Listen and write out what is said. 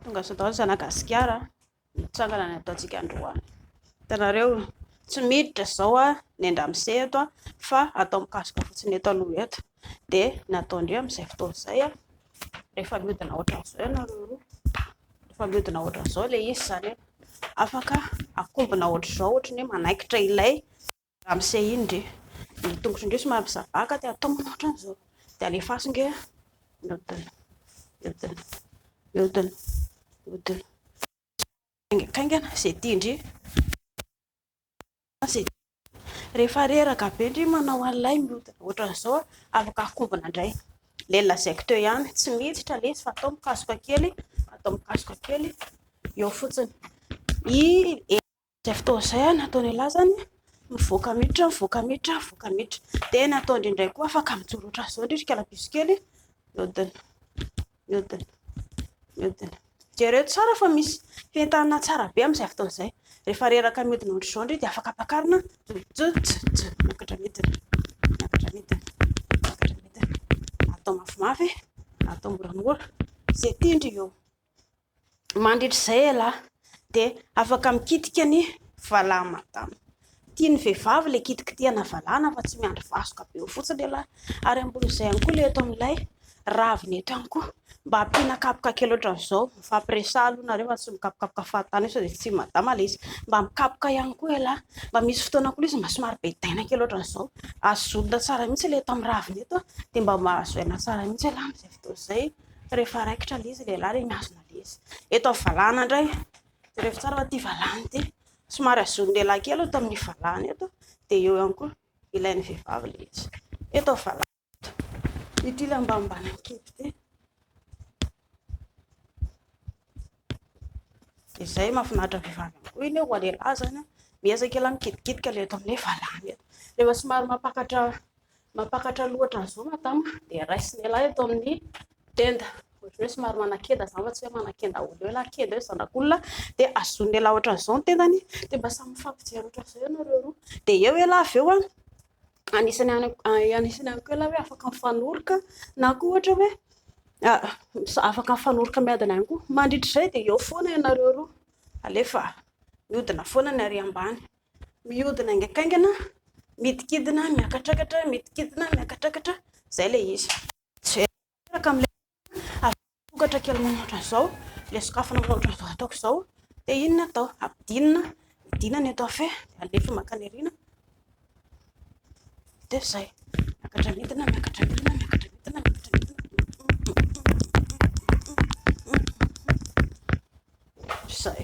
tonga sao daholo zana gasikara mitsangana ny ataontsika androany hitanareo tsy miditra zao a ny andramse eto a fa atao mikasoka fotsiny eto aloha eto dia nataondreo amin'izay fotoana izay a rehefa miodina ohatran'izao ianareo roa rehefa miodina ohatran'izao le izy zany afaka akombona ohatr'izao ohatran'ny hoe manaikitra ilay Ramose iny ndry ny tongotry ndry somary misabaka dia atao manao otrany zao dia alefaso ndry a miodina miodina miodina miodina haingankaingana ze tia ndry ze rehefa reraka be ndry manao an'ilay miodina otrany zao afaka akobona ndray le lazaiko teo ihany tsy miditra lesy fa atao mikasoka kely atao mikasoka kely eo fotsiny i Izay fotoana izay natao ny lazany, mivoaka miditra, mivoaka miditra, mivoaka miditra. Dia natao indraindray koa afaka mijoro ohatran'ny izao indrindra kalabiso kely, mihodina, mihodina, mihodina. Jereo tsara fa misy fentanana tsara be amin'izay fotoana izay. Rehefa reraka mihodina ohatry izao indray dia afaka ampakarina, miakatra midina, miakatra midina, miakatra midina. Atao mafimafy, atao moramora, izay tian-dry eo. Mandritra izay ialahy dia afaka mikitika ny valahany madama. Tian'ny vehivavy ilay kitikitihana valahana fa tsy miandry vasoka be eo fotsiny ialahy. Ary ambonin'izay ihany koa ilay eto amin'ilay ravina eto ihany koa. Mba ampiana kapoka kely ohatran'izao. Mifampiresaha aloha nareo fa tsy mikapokapoka fahatany eo sao dia tsy madama ilay izy. Mba mikapoka ihany koa ialahy. Mba misy fotoana koa ilay izy mba somary be taina kely ohatran'izao. Azo zorina tsara mihitsy ilay eto amin'ny ravina eto dia mba mahazo aina tsara mihitsy ialahy amin'izay fotoana izay. rehefa raikitra ilay izy lehilahy dia mihazona ilay izy. Eto amin'ny valahana indray, jereo tsara fa ity valahana ity, somary azon'ny lehilahy kely eto amin'ny valahana eto, dia eo ihany koa ilain'ny vehivavy ilay izy. Eto amin'ny valahana eto, ity ilay ambanimbany amin'ny kibo ity. Dia izay mahafinaritra ny vehivavy ihany koa iny hoe ho an'ny lehilahy izany, miezaka ialahy mikidikidy ka ilay eto amin'ny valahana eto. Rehefa somary mampakatra... Mampakatra loha ohatran izao madama dia raisiny elah eto amin'ny tenda ohatran'ny hoe somary manakenda zany fa tsy hoe manakenda olona eo elah kenda eo zanak'olona dia azony elah ohatran izao ny tendany dia mba samy mifampijery ohatran izao ianareo roa dia eo elah avy eo an anisany anisany ihany koa elah hoe afaka mifanoroka na koa ohatra hoe afaka mifanoroka miadana ihany koa mandritra izay dia eo foana ianareo roa alefa miodina foana ny ary ambany mihodina haingankaingana, midikidina, miakatrakatra, midikidina, miakatrakatra, izay ilay izy. Jerena tanteraka amin'ilay avy sokatra kely manao ohatran'izao, ilay sokafana manao ohatran'izao ataoko izao, dia inona atao? Ampidinina, midina ny eto afobe, alefa mankany aoriana, dia izay. Miakatra midina, miakatra midina, miakatra midina, miakatra midina. Izay.